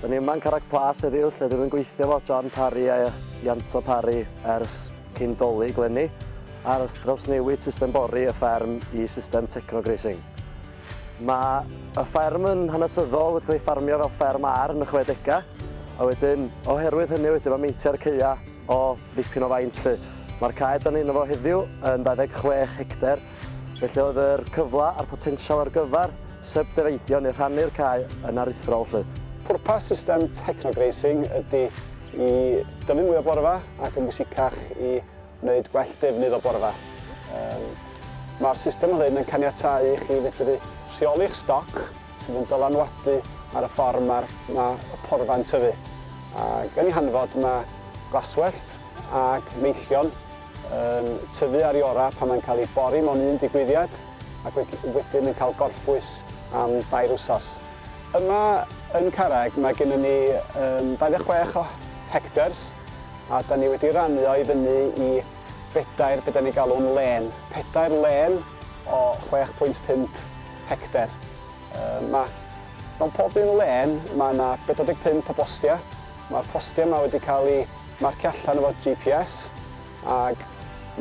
Da ni yma yn Carreg Plas heddiw lle dwi wedi gweithio fo John Parry a Ianto Parry ers cyn doli glenni ar ystrawsnewid system bori y fferm i system techno-grazing. Mae y fferm yn hanesyddol, wedi cael ei ffarmio fel fferm ar yn y chwedegau, a wedyn oherwydd hynny wedyn mae meintiau'r caeau o ddipyn o faint 'lly. Mae'r cae dan ni yno fo heddiw yn 26 hectar, felly oedd yr cyfle a'r potensial ar gyfer sybdefeidio neu rhannu'r cae yn aruthrol 'lly. Pwrpas system Techno Grazing ydy i dyfu mwy o borfa ac yn bwysicach i Wneud gwell defnydd o borfa. Mae'r system hyn yn caniatáu i chi fedru rheoli'ch stoc sydd yn dylanwadu ar y ffordd mae'r ma y porfa'n tyfu, ac yn ei hanfod mae glaswellt ac meillion yn tyfu ar iora pan mae'n cael ei bori mewn un digwyddiad ac we wedyn yn cael gorffwys am dair wsos. Yma yn Carreg mae gennym ni 26 o hectars A da ni wedi rannu o i fyny i bedair, be da ni'n galw'n lên, pedair lên o 6.5 hectar. Mae mewn pob un lên mae yna 45 o bostiau. Mae'r postiau yma wedi cael eu marcio allan efo GPS ac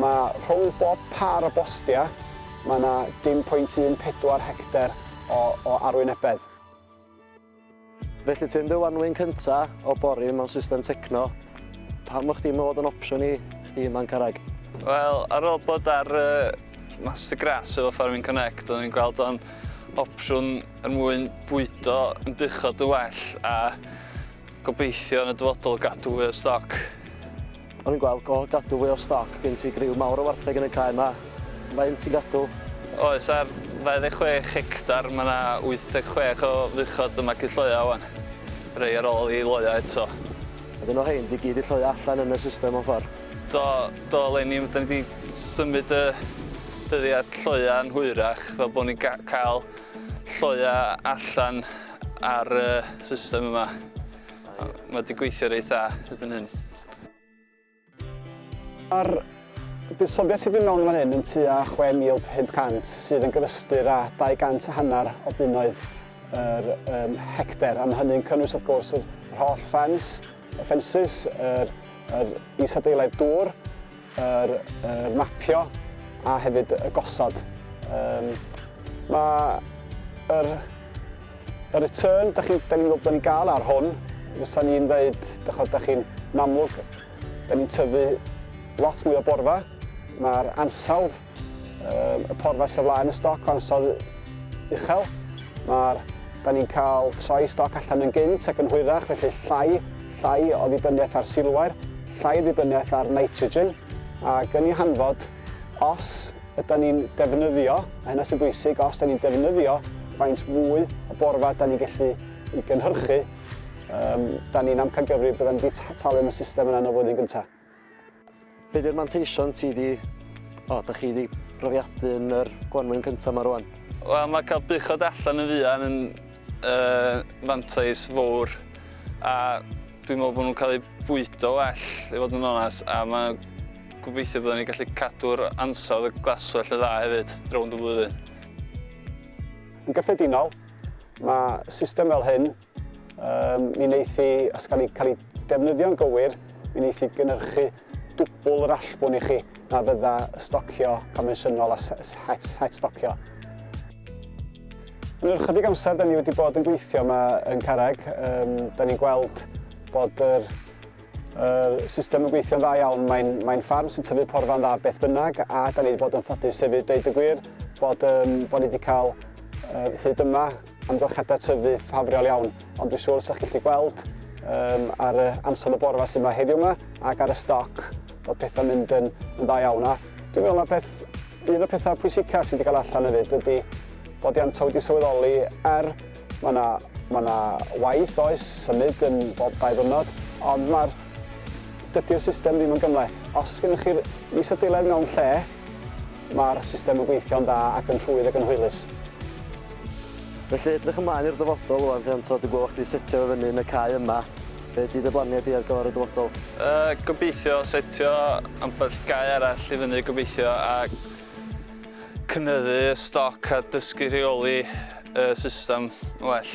mae rhwng bob pâr o bostiau mae yna 0.14 hectar o, o arwynebedd. Felly ti yn dy wanwyn cynta o bori mewn system techno, pam fo chdi modd yn opsiwn i chdi man carreg? Wel ar ôl bod ar y master grass efo farming connect o'n i'n gweld o'n opsiwn er mwyn bwydo yn buchod yn well a gobeithio yn y dyfodol gadw fwy o stoc. O'n i'n gweld go gadw fwy o stoc gen ti griw mawr o wartheg yn y cae ma. Faint ti'n gadw? Oes ar 26 hectar ma na 86 o fuchod yn magu lloea wan. Rei ar ol i loea eto. A dyn o rhein di gyd i lloea allan yn y system mewn ffor? Do do eleni dyn ni di symud y dyddiad lloea yn hwyrach fel bo ni'n cael lloea allan ar y system yma. Mae wedi gweithio reit dda hyd yn hyn. Mae'r buddsoddiad sydd wedi mewn fan hyn yn tua 6,500 sydd yn gyfystyr â 200 a hanner o bunnoedd yr um, hecter. Am hynny'n cynnwys wrth gwrs yr holl ffens, y ffensys, yr, yr isadeilaidd dŵr, yr, yr mapio a hefyd y gosod. Um, mae yr, y return, da chi'n ni gwybod bod ni'n gael ar hwn, fysa ni'n dweud, da chod, da chi'n amlwg, da ni'n tyfu lot mwy o borfa, mae'r ansawdd Y porfa sydd flaen y stoc o ansawdd uchel. Mae'r da ni'n cael troi stoc allan yn gynt ac yn hwyrach, felly llai, llai o ddibyniaeth ar silwair, llai o ddibyniaeth ar nitrogen, ac yn ei hanfod, os ydy ni'n defnyddio, a hynna sy'n bwysig, os ydy ni'n defnyddio faint fwy o borfa da ni'n gallu i gynhyrchu, um, da ni'n amcangyfrif byddwn wedi talu am y system yna yn y flwyddyn gyntaf. Be di'r manteision ti di, o, da chi di brofiadu yn yr gwanwyn cynta ma rwan? Wel ma cael buchod allan yn fuan yn yy fantais fowr a dwi'n meddwl bo nhw'n cael eu bwydo well i fod yn onas a ma gobeithio bydden ni gallu cadw'r ansawdd y glaswellt yn dda hefyd rownd y flwyddyn. Yn gyffredinol, ma system fel hyn Um, mi wneith i, os gael ei cael ei defnyddio'n gywir, mi wneith i gynhyrchu dwbl yr allbwn i chi na fydda stocio convensiynol a het, het stocio. Yn yr ychydig amser, da ni wedi bod yn gweithio yma yn Carreg. Um, da ni'n gweld bod yr, yr system yn gweithio'n dda iawn. Mae'n mae ffarm sy'n tyfu porfa'n dda beth bynnag a da ni wedi bod yn ffodus hefyd deud y gwir bod, um, bod ni wedi cael uh, hyd yma Amgylchiadau tyfu ffafriol iawn, ond dwi'n siŵr sa'ch chi gweld um, ar y amser y borfa sydd yma heddiw yma ac ar y stoc bod pethau'n mynd yn, yn dda iawn. A dwi'n meddwl na peth, un o'r pethau pwysicaf sydd wedi cael allan hefyd ydy bod Ianto wedi sylweddoli er mae yna Mae yna waith oes, symud yn bob dau ddwrnod, ond mae'r dydy'r system ddim yn gymleth. Os oes gennych chi'r isodeiledd mewn lle, mae'r system yn gweithio'n dda ac yn rhwydd ac yn hwylus. Felly edrych ymlaen i'r dyfodol ŵan Rhianto, dwi'n gweld fod chdi setio fe fyny yn y cae yma. Be ydy dy blaniau di ar gyfer y dyfodol? Yy gobeithio setio ambell gae arall i fyny gobeithio a cynyddu y stoc a dysgu rheoli y system yn well.